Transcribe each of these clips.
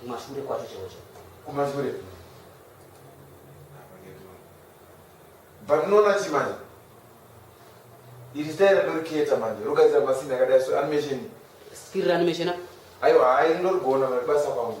kumashure kwacho chaicho kumashure but unoona chi manje iri style ndoriketa manje rogadzira masini akadai so animation skiri reanimation aiwa hayi ndorigona basa kwangu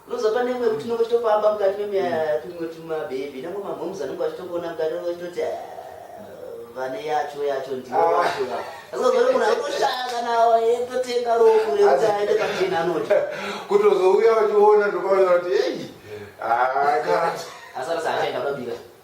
Unozopa nemwe kuti unenge uchitofamba mukati memimwe tumabhebhi nemwe mamhoms anenge achitokuona mukati unenge uchitoti vane yacho yacho ndiyo ah. yacho asikazori munhu akutoshaya kana etotenga rofu rekuti aende pachena anoti kutozouya vachiona ndokavaona kuti ei ah, akati asarasa achaenda kwabira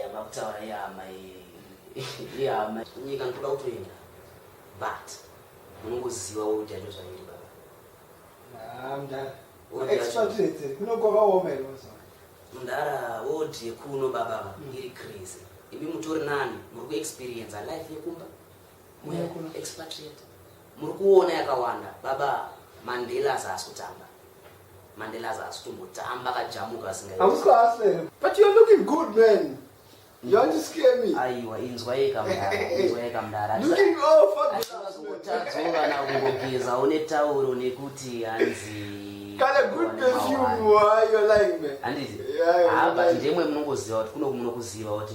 yamabutaura yama yama nyika ndoda kutoenda but unongoziva wojacho zvairi baba mdara old yekuno baba iri crazy imi mutori nani muri kuexperienza life yekumba mweya kuno expatriate muri kuona yakawanda baba mandela azaasi kutamba mandela azaasi kumbotamba akajamuka asingaausiasere but you're looking good man aiwa inzwa yekamdainzwa yekamdaraazovana kungogeza une tauro nekuti hanzi handizi haa but ndemwe munongoziva kuti kuno munokuziva kuti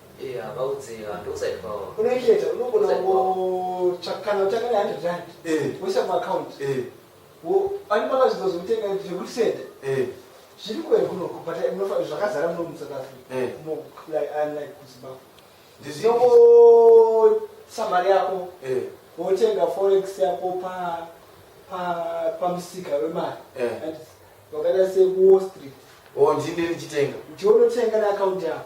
Yeah, vaudze ndokuside kwavo. Unoicheta unogona kungotsvaka kana utanga ne 100 rand. Eh. Woisa mu account. Eh. Wo ani pakazvidzwa zvekutenga zvekuti sende. Eh. Zviri kuwe kunoko but munofa zvakazara muno mu South Africa. Eh. Mo like unlike ku Zimbabwe. Ndizongo samari yako. Eh. Wotenga forex yako pa pa pamusika wemari. Eh. Wakaita se Wall Street. Oh, ndine ndichitenga. Ndiwonotenga ne account yako.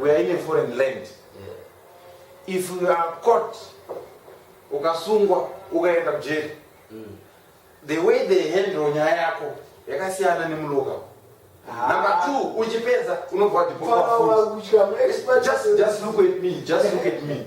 we are in a foreign land if you are caught ukasungwa ukaenda kujeri mm. the way they handle nyaya yako yakasiyana nemuloka ah. number two uchipedza unobva wadipoa just look at me just look at me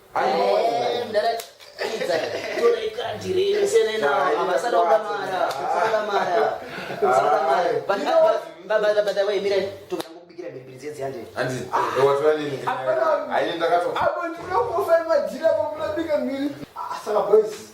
Saka boys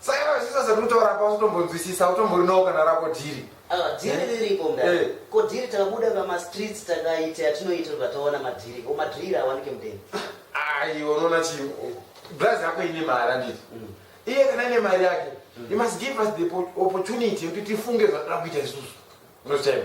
Saka vazvisa sekutora apa utombonzwisisa utombori nawo kana rako dhiri. Ah, dhiri eh. riripo mdara. Eh. Ko dhiri takabuda pama streets takaita yatinoita tataona madhiri. Ko madhiri awanike mdeni. Ayi unoona chi blazi yako ine mari anditi. Mm. Iye kana ine mari yake. Mm. He must give us the opportunity yekuti tifunge zvatinoda kuita isusu. Unochema.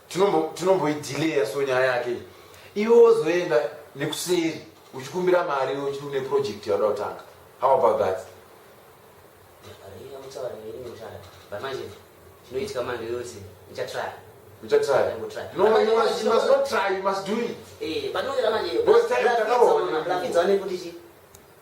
tinomboidhileya so nyaya yake iwe wozoenda nekuseri uchikumbira mari uchiti une project yauda kutanga how about that zvinoitika manje yose ndichatraya ndichatraya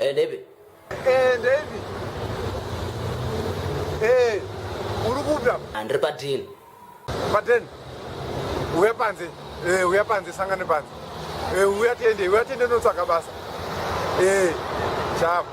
Eh, David. Eh, David. Eh, uri kuda? Andri ah, padini. Padini. Uya panze. Eh, uya panze sangane panze. Eh, uya tende, uya tende notsvaka basa. Eh, chavo.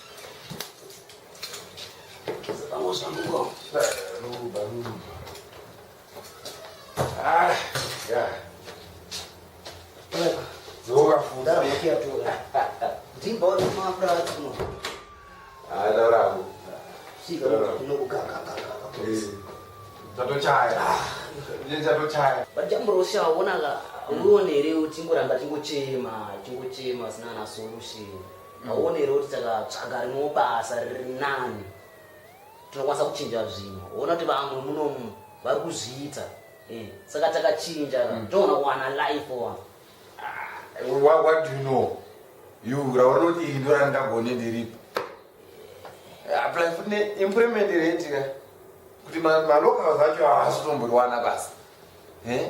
Ah, yeah. ndatochaya wonaka uone here tingoramba tingochema tingochema zina na solution hauoni here kuti takatsvaga rimwewo basa riri nani tinokwanisa kuchinja zvinhu hoona kuti vamwe munomu vari kuzviita eh, saka takachinja mm. toona kuwana life wa ah, what do you know you raona kuti iri ndo randagone ndiripo apply eh, futi neimplement rentika kuti malocals acho haasi kutomboriwana basa eh?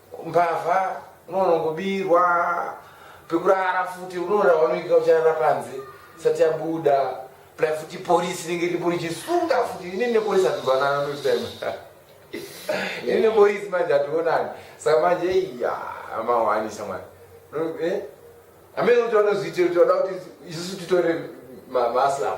mbavha unoona ngobirwa pekurara futi unoona vanoika ucharara panze sati yabuda pla futi polisi ringe ripo richisunga futi ini nepolisi ativanana notime ini nepolisi manje ationani saka manje iya amawanisa mwana eh? amene kuti vanozoitira kuti vada kuti isusu titore maslamu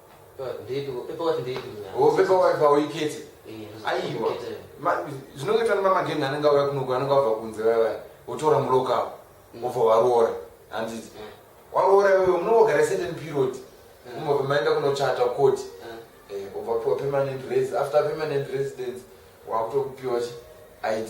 zvinongoitwa nemamageni anenge auya kunoku anenge abva kunze vavaya votora muloka avo vobva mm. varoora handiti mm. waroora iwewe munongogara certain period umva mm. pamaenda kunochata koti eh, obva piwa permanent resi after permanent residence wakutokupiwa chi id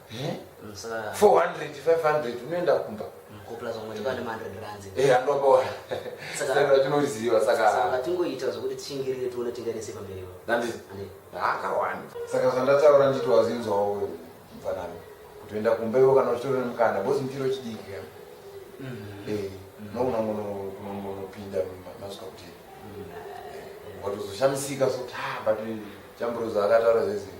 Eh? 400 500 unoenda kumba andoboa tinoriziva sakatingoita zvokuti tishingirire tione tingarise pamberi akawanda saka zvandataura nditi wazinzwawo mfanani kutoenda kumba ivo kana uchitori nemukana bhosi mutiro chidiki nokunongonopinda masuka kuti watozoshamisika so ta but chamburozo akataura zvezii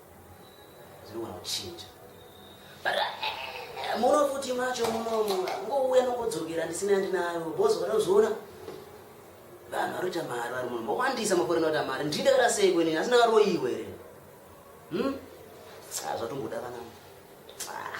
zvinogona kuchinja but eh, muno futi macho munomu ngouya nongodzokera ndisina ndinayo bozi varozviona vanhu varoita mari vari muno mawandisa makore anoita mari ndii ndakata sei kweni asi ndakaroyiwa here hmm? ah, zvatongoda vanangu ah.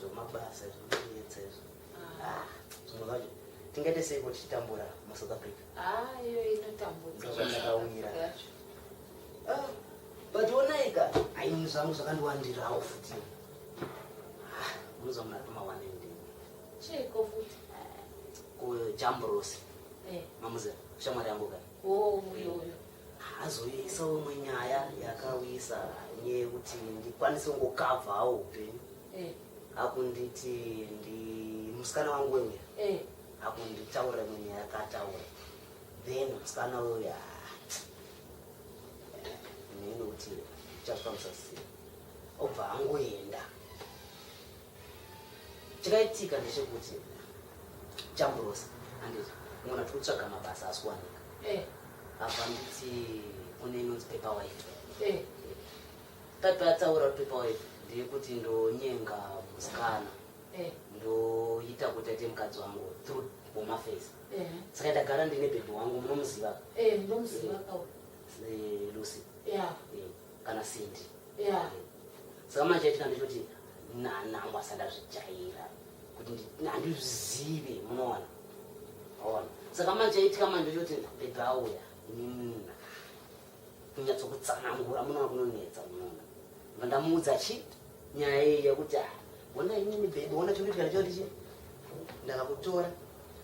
zvemabasa zvinonetsa izvo ah, zvimwe zvacho tingaite sei kuti titambura musouth africa ah, iyo inotambudza ndozvandakaumira ah, but onaika aini zvangu zvakandiwandirawo futi munozoona tomawane ndini chiko futi kujamburosi eh. mamuzera shamwari yangu kani oh, uyo uyo azoisa umwe nyaya yakawisa nyaya yekuti ndikwanise kungokavhawo upenyu eh. akunditi ndi musikana wangu weuya eh. akunditaura imwe nyaya yakataura then musikana uya neni kuti chazvifambisa sei obva angoenda chakaitika ndechekuti chamburosa anditi mona tiri kutsvaga mabasa asi kuwanika eh. apa nditi kune inonzi pepa waife eh. pepa yataura kuti pepa waife ndeyekuti ndonyenga musikana eh. ndoita kuti aite mukadzi wangu through home affairs saka ndagara ndine bhebhi wangu munomuziva ndomuziva lucy kana sindi yeah. saka manje yatika ndechoti nanangu asandazvijaira kuti handizvizive munoona ona saka manje yaitika manje ndechoti bebe auya nina kunyatsokutsanangura munoona kunonetsa munoona vandamuudza chi nyaya iyi yekuti ah, ona inini bebe ona chonditika ndichotichi ndakakutora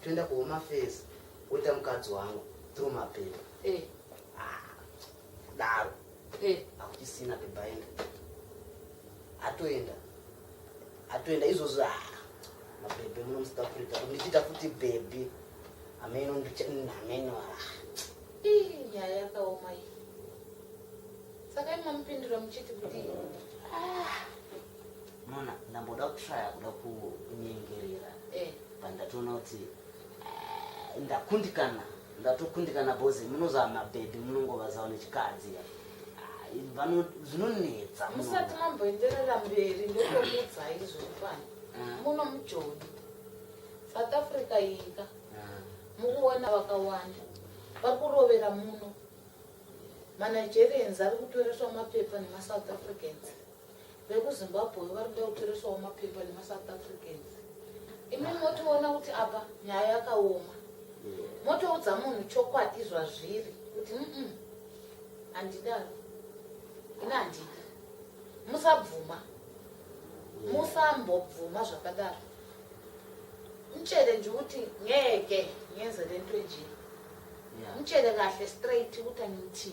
toenda kuhomafesi woita mukadzi wangu through mapepa eh. kudaro eh. akuchisina bebaenda atoenda atoenda izvozvo a ah, mabhebhe munomusika africa ndichiita futi bhebhi ameno ameno ah. nyaya yakaoma iyi saka imamupindura muchiti kuti ah. mona ndamboda kutraya kuda kunyengerera eh. pandatoona kuti ndakundikana ndatokundikana bozi munozava mabhebhi munongovazava nechikadzi vano zvinonetsa musati mamboenderera mberi ndotomudzai zviripano ah. muno mujoni south africa yika ah. mukuona vakawanda vakurovera muno manigerians ari kutoreswa mapepa nemasouth africans vekuzimbabwe vari kuda kutoresawo mapepa nemasouth africans imi motoona kuti apa nyaya yakaoma motoudza munhu chokwadi zvazviri kuti mm handidaro ini handidi musabvuma musambobvuma zvakadaro mchere ndikuti ngeke ngenzerentwenjii mchere kahle straight kutaniti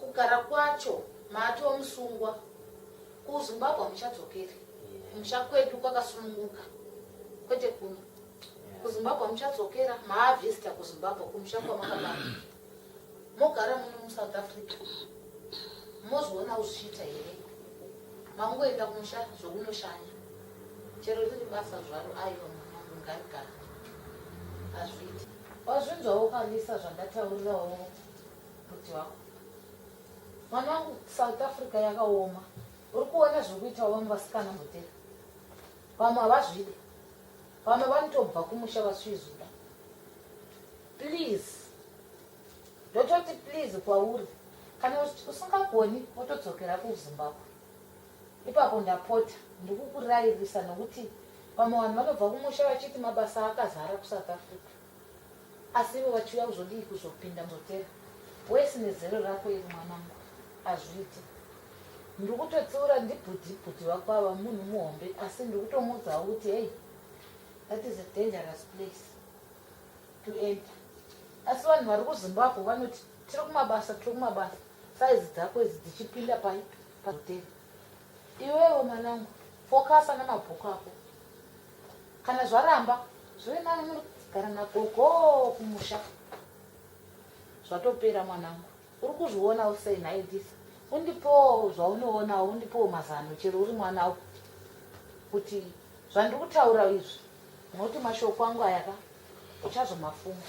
kugara kwacho maatoo musungwa kuzimbabwe muchadzokeri kumusha kwedu kwakasununguka kwete kuno kuzimbabwe muchadzokera maavhesita kuzimbabwe kumusha kwamakabaa mogara muno musouth africa mozoona uzvichiita here mangoenda kumusha zvokunoshanya chero riri basa zvaro aiwa mwanangu ngaigara hazviiti wazvinzwawo kanisa zvandataurirawo kuti wako mwana wangu south africa yakaoma uri kuona zviri kuitawo vamwe vasikana mhotera vamwe havazvide vamwe vanotobva kumusha vasvizuda please ndototi please kwauri kana usingagoni wotodzokera kuzimbabwe ipapo ndapota ndikukurayirisa nokuti vamwe vanhu vanobva kumusha vachiti mabasa akazara kusouth africa Asi ivo vachiuya kuzodii kuzopinda muzotera wesi nezero rako iri mwanangu azviite ndikutotsiura ndibhudhi bhudhi wako ava munhu muhombe asi ndikutomuudzawo kuti hei that is a dangerous place to enter asi vanhu vari kuzimbabwe vanoti tiri kumabasa tiri kumabasa saizi dzako idzi dzichipinda pai pazotera iwewo mwanangu fokasa namabhuku ako kana zvaramba zvive nani munogara nagogo kumusha zvatopera mwanangu uri kuzviona usei nhai this undipowo zvaunoonawo undipowo mazano chero uri mwana u kuti zvandiri kutaura izvi nokuti mashoko angu ayaka uchazomafunga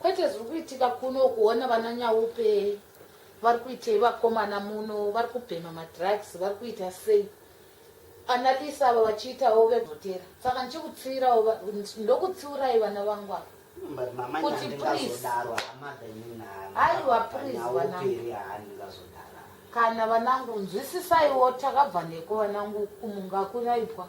Kwete zviri kuitika kuno kuona vana Nyaupe vari kuitei vakomana muno vari kubhema madrugs vari kuita sei analisa ava vachiitawo vevhotera saka ndichikutsiirawo ndokutsiurai vana vangu ava kuti please aiwa please vanangu kana vanangu nzwisisaiwo takabva neko vanangu kumunga kunaipwa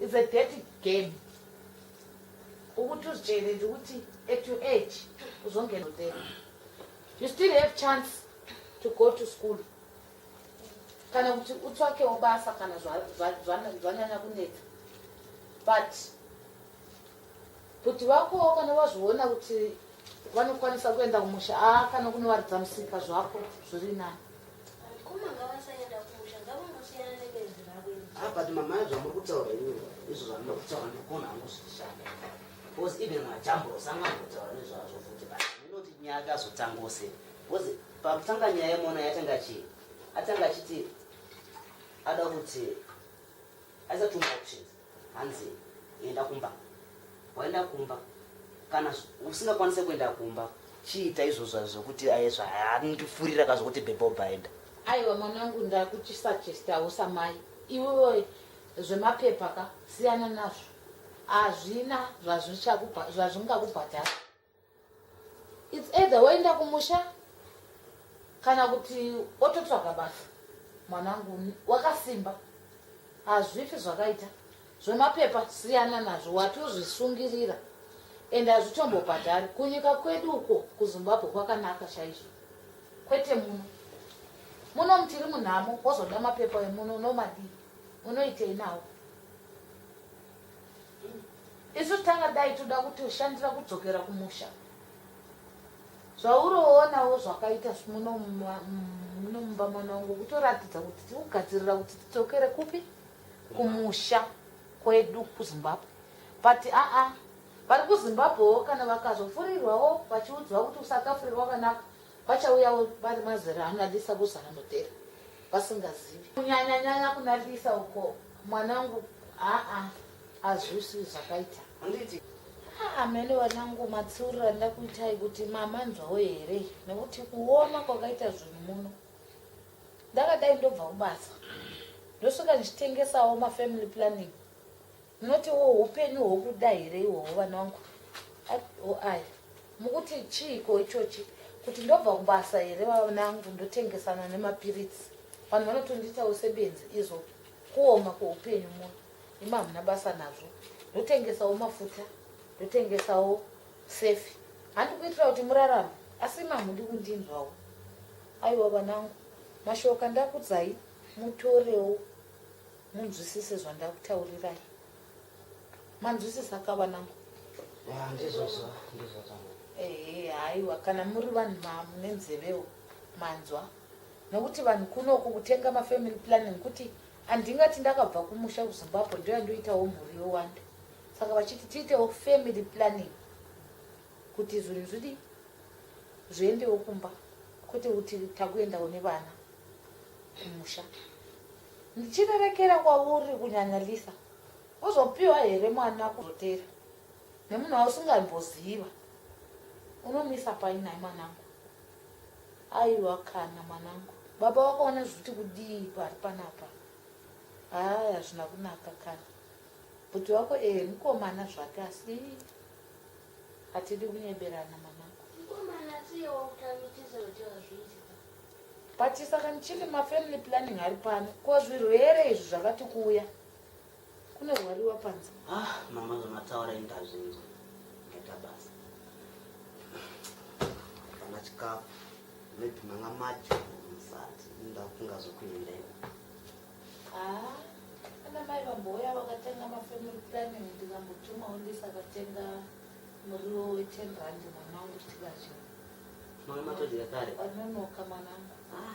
It's a dirty game. Ukuthi uzitshele nje ukuthi at your age uzongena there. You still have chance to go to school. Kana kuti utswake ubasa kana zvanyanya kunetsa. But Bhudhi vakowo kana vazviona kuti vanokwanisa kuenda kumusha a ah, kana kunovaridza musika zvako zviri nani ah, but mama zvamuri kutaura ini izvo zvamuri kutaura ndikona hangu zvichishanda bcause even majambros anga kutaura nezvazvo futi but inoti nyaya akazotangose bcause pakutanga nyaya yemona yatanga chii atanga achiti ada kuti aisa two options Hanzi enda kumba. Waenda kumba. Kana usingakwanise kuenda kumba, chiita izvozvo zvokuti aizva handifurira ka zvokuti bhebho bhaenda. Aiwa mwanangu ndakuchisachesta usamai. Iwewe zvemapepa ka siyana nazvo. Hazvina zvazvichakubha zvazvingakubhadhara. its either woenda kumusha kana kuti ototsvaga basa mwanangu wakasimba hazvifi zvakaita zvemapepa siyana nazvo watozvisungirira ende hazvitombobhadhari kunyika kwedu uko kuzimbabwe kwakanaka chaizvo kwete muno muno mutiri munhamo wozoda mapepa emuno unomadii unoitei nawo mm. isu tanga dai toda kutoshandira kudzokera kumusha zvauroonawo zvakaita muno mumba mwana wangu kutoratidza kuti tiri kugadzirira kuti tidzokere kupi kumusha kwedu kuzimbabwe but aa vari kuzimbabwewo kana vakazofurirwawo vachiudzwa kuti usakafurirwa kanaka vachauyawo vari mazera anadisa kuzara mudhera vasingazivi kunyanyanyanya kunadisa uko mwana wangu aa Hazvisi zvakaita. Handiti. Amene ah, vanangu matsurira ndakuitai kuti mama nzwawo here nekuti kuona kwakaita zvinhu muno ndakadai ndobva kubasa ndosvika ndichitengesawo mafamily planning munoti wo upenyu hwokuda here ihwohwo vana vangu oai mukuti chiiko ichochi kuti ndobva kubasa here vanangu ndotengesana nemapiritsi vanhu vanotondiitawo sebenzi izvo kuoma kweupenyu muno imi hamuna basa nazvo ndotengesawo mafuta ndotengesawo sefi handi kuitira kuti murarame asi imi hamundi kundinzwawo aiwa vanangu mashoka ndakudzai mutorewo munzwisise zvandakutaurirai manzwisisa ka vanangu ndizvozvo ndizvozvo ehe haiwa kana muri vanhu mune nzevewo manzwa nokuti vanhu kunoku kutenga mafamily planning kuti Handingati ndakabva kumusha kuZimbabwe ndoyandoitawo mhuri yowanda. Saka vachiti tiitewo family planning kuti zvinhu zvidi zviendewo kumba kwete kuti takuendawo nevana kumusha. Ndichirerekera kwauri kunyanya Lisa. Uzopiwa here mwana kuzotera nemunhu wausingaiboziva? Unomisa pai nhai mwanangu? Aiwa kana mwanangu. Baba wakaona zviti kudii pari panapa? Haa hazvina kunaka kana. Bhuti wako eh mukomana zvake asi hatidi kunyeberana mwanangu. Mukomana siyewo kutanga kutiza kuti hazvizi. But saka ndichiti mafamily planning ari pano ko zvirwere izvi zvakati kuuya. Kune rwari wapanza. Ah, mama zvamataura indazvinzwa. Ngeta basa. Kana chikafu. Maybe manga macho musati ndafunga zvokuenda iwe. Ah, kana mai vamboya vakatenga mafamily planning ndikambotuma undisa akatenga muriwo we 10 rand mwana wangu tikadya. Mwana matodya kare. Anonoka mwana wangu. Ah.